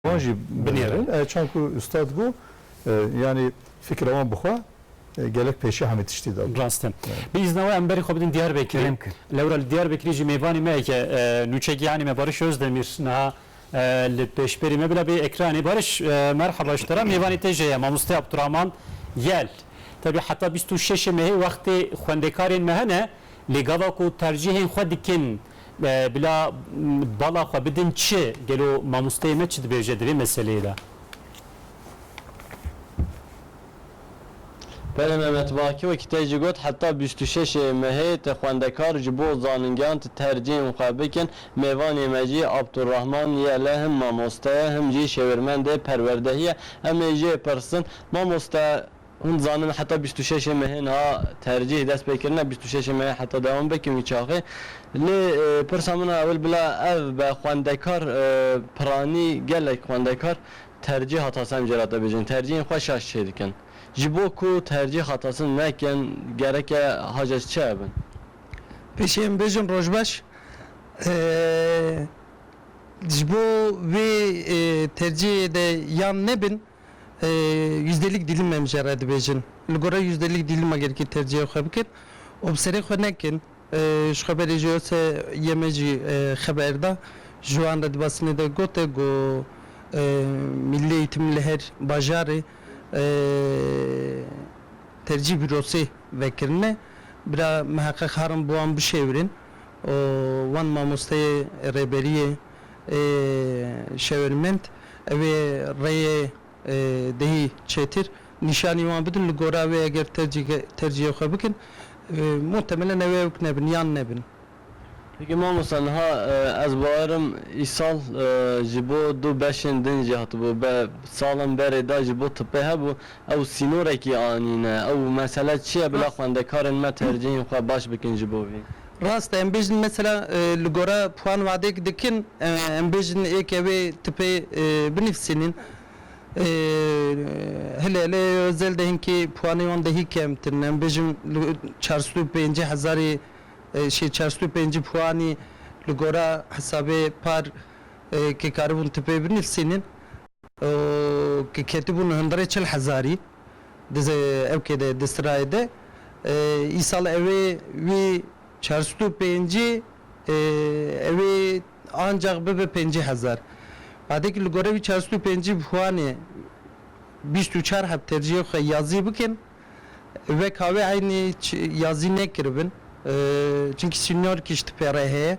Wan jî binêrin. E çand ku ustad got yanî fikra wan bi xwe gelek pêşiya hemî tiştî de bû. Rast e. Bi îzna we em berî xwe bidin Diyarbekirê. Lewra li Diyarbekirê jî mêvanê me heke nûçek yanî me Barış Özdemir niha li pêşberî me bila bê ekranê. Barış merheba ji te re. Mêvanê te jê ye Mamoste Abdurahman Yel. Tevî heta bîst û şeşê mehê wextê xwendekarên me hene lê gava ku tercîhên xwe dikin Bila bala xwe bidin çi? Gelo mamosteyê me çi dibêje di vê meseleyê de? Pere Mehmet Baki wekî te jî got, heta bîst û şeş ê mehê te xwendekar ji bo zaningehan ti tercîhên xwe bikin. Mêvanê me jî Abdulrahman ye le him mamoste ye him jî şêwirmendê perwerdehî ye. Em ê jê pirsin, Mamoste! Hûn dizanin heta bîst û şeşê mehê niha tercîh dest pê kirine, bîst û şeşê mehê heta dewam be kî wî çaxê. Lê pirsa min a ewil bila ev be xwendekar piranî gelek xwendekar tercîh hata sem jê re te bêjin tercîhên xwe şaş çê dikin. Ji bo ku tercîh hata sin nekin gereke hajes çi hebin? Pêşî em bêjin rojbeş ji bo vê tercîhê de yan nebin. Yüzdelik dilim em jê re dibêjin. Li gora yüzdelik dilima gerikî tercîhê xwe bikin û bi serê xwe nekin. Ji xwe berê jî Ose yê me jî xeber da, ji wan re di basînê de gote ku Milli Eğitim li her bajarê tercîh bi rosê vekirine. Bira miheqeq harin bi wan bişêwirin. û wan mamosteyê rêberiyê ê şêwirmend ew ê rêyê dihî çêtir nîşanî wan bidin li gora wê eger tercîyê xwe bikin muhtemelen ew ê nebin yan nebin. Peki mamosta niha ez bawer im îsal ji bo du beşên din jî hatibû salan berê de ji bo tipê hebû Ew sînorekî anîne. Ew mesele çi ye bila xwendekarên me tercihên xwe baş bikin ji bo vî? Rast e, em bêjin mesela li gora puan wadek dikin, em bêjin êk ew ê tipê binivîsînin. Hile hile Özel de hinkî puanê wan dehî kemtir in. Em bêjin li çar sed û pêncî hezarî şê çar sed û pêncî puanî li gora hesabê par kê karibûn tipê binivîsînin. û ku ketibû li hundirê çil hezarî di evkê de di sirayê de îsal ew ê wî çar sed û pêncî ew ê ancax bibe pêncî hezar. Badê ku li gorî wî çar sed û pêncî bi huanê bîst û çar heb tercîhê xwe yazî bikin weka wê eynî yazî nekiribin çimkî sînor kişt pê re heye.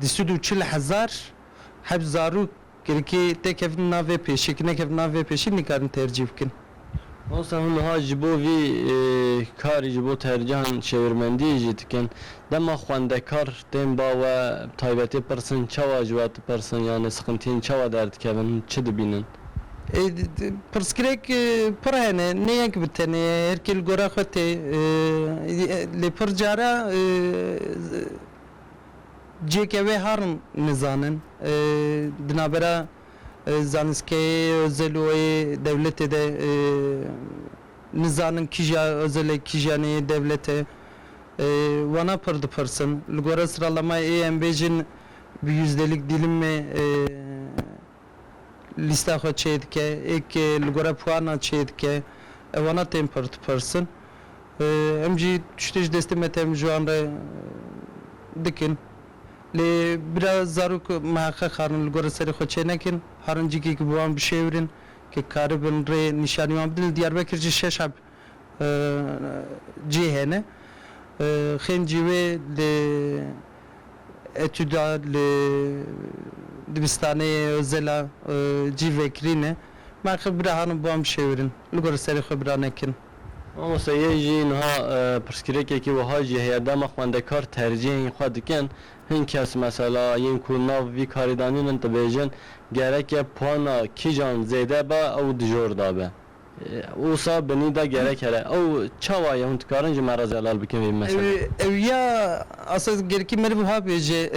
du sed û çil hezar heft zarok girkê tê kevin nav vê pêşê, ku nekevin nav vê pêşê nikarin tercîh bikin. Mamosta hûn niha ji bo vî karî ji bo tercihan çêwirmendiyê jî dikin. Dema xwendekar tên ba we bi taybetê pirsin çawa ji we dipirsin yanê siqintiyên çawa derdikevin hûn çi dibînin? Pirsgirêk pir hene, ne yek bi tenê ye, her kê li gora xwe tê. Lê pir cara cihê ke wê harin nizanin. Di navbera zanistgehê Ozel û yê dewletê de nizanin kîja Ozel e kîja ne yê dewlet e. Wana pir dipirsin. Li gora siralamayê êyên bê jin bi yüzdelik dîlimê lîsta xwe çê dike, êk li gore puana çê dike, ewana tên pirtipirsin. Em jî tiştê ji destê me tê min ji wan re dikin. Lê bira zarok miheqeq harin li gore serê xwe çê nekin, harin cîkê ku bi wan bişêwirin, ku karibin rê nîşanî wan bidin. Li Diyarbekir jî şeş heb cih hene. Xên cî wê li etûda li dibistanê Ozela cî vekirîne. Me xif bira hanin bo em şêwirin. Li gor serê xwe bira nekin. Mamoste yê jî niha pirsgirêkekî wiha jî heye, dema xwendekar tercîhên xwe dikin, hin kes mesela yên ku nav vî karê danînin dibêjin, gereke puana kîjan zêde be ew dijor dabe. Wisa binî de gerek here. Ew çawa ye? Hûn dikarin ji me re zelal bikin vê meseleyê? Ew ya esas gerikî meriv wiha bêje.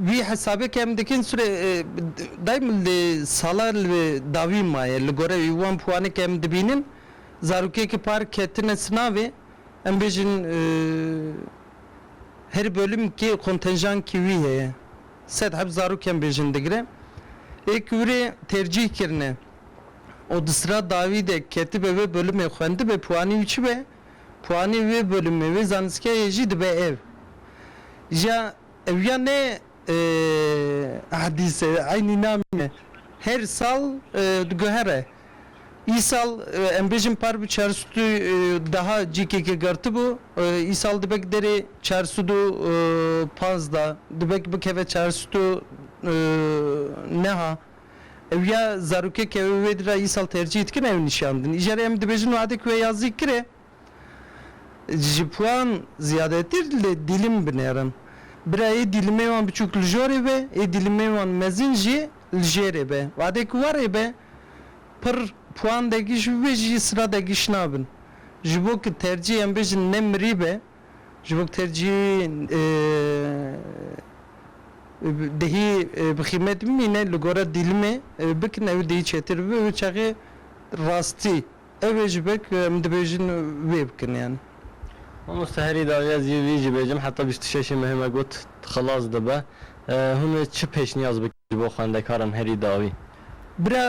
Wî hesabê ke em dikin sûre daîm li sala li dawî maye. Li gore wî wan piwanê ke em dibînin zarokekî par ketine sinavê em bêjin her bölüm kê kontenjankî wî heye. Sed heb zarokên bêjin digire. Ê ku wire tercîh kirine û di sira dawî de ketibe wê bolumê xwendibe puanî û çibe puanî wê bolumê wê zanistgehê jî dibe ev ja ew ya ne hadîse eynî namîne her sal diguhere. Îsal em bêjin par bi çar sed û deha cîkeke girtibû, îsal dibe ki derê çar sed û panzda, dibe ki bikeve çar sed û neha. Ew ya zarokek e wê wê dira îsal tercîh dikin ew nîşan din. Îjarê em dibêjin wadek we ya zî kir e. Ji wan ziyadetî li dîlim binêrin. Bira ê dîlimê wan biçûk li jorê be, ê dîlimê wan mezin jî li jêrê be. Wadê ku warê be pir puan degiş bibe jî sila degiş nabin. Ji bo ku tercîh em bêjin ne mirî be, ji bo ku tercîh dihî bi xîmet bimîne li gora dîlimê bikin ew dihî çêtir bibe. Bi çaxê rastî. Ev ê ji be ku em dibêjin wê bikin yan. Mamoste herî daxî ez yê vî jî bêjim heta bîst û şeşê mehê me got xilas dibe. Hûn ê çi pêşniyaz bikin ji bo xwendekaran herî daxî? Bira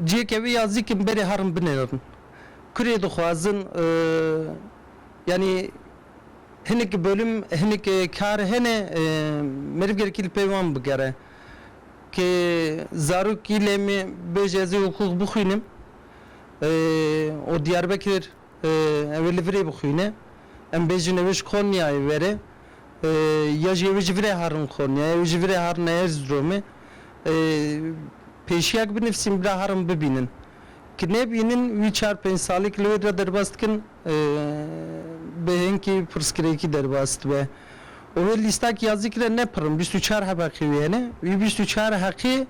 cihêke wê ya zîkin berê herin binêrin. Kurê dixwazin yanî hinek bolum hinek kar hene meriv gerekî li pey wan bigere. Ke zarokî lê me bêje ez ê huqûq bixwînim û Diyarbekir ew ê li vir ê bixwîne. Em bêjin ew ê ji Konyayê were ya jî ew ê ji vir e herin Konyayê, ew ê ji vir e herine Erziromê. Pêşiyek binivîsîn bila herin bibînin. Ki nebînin wî çar pênc salî ki li wê re derbas dikin. Bi hênkî pirsgirêkî derbas dibe û wê lîstak ya zîkre ne pir in, bîst û çar hebeqî wî hene. Wî bîst û çar heqî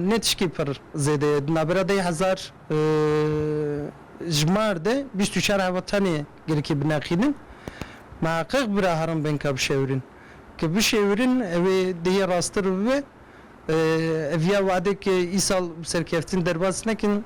ne tişkî pir zêde ye. Di navbera deh hezar ji mar de bîst û çar hebeq tenê girkî bineqînin. Miheqiq bira herin bên ka bişewirin. Ki bişêwirin ew ê dihê rastir bibe. Ev ya wadek îsal bi serkeftin derbas nekin.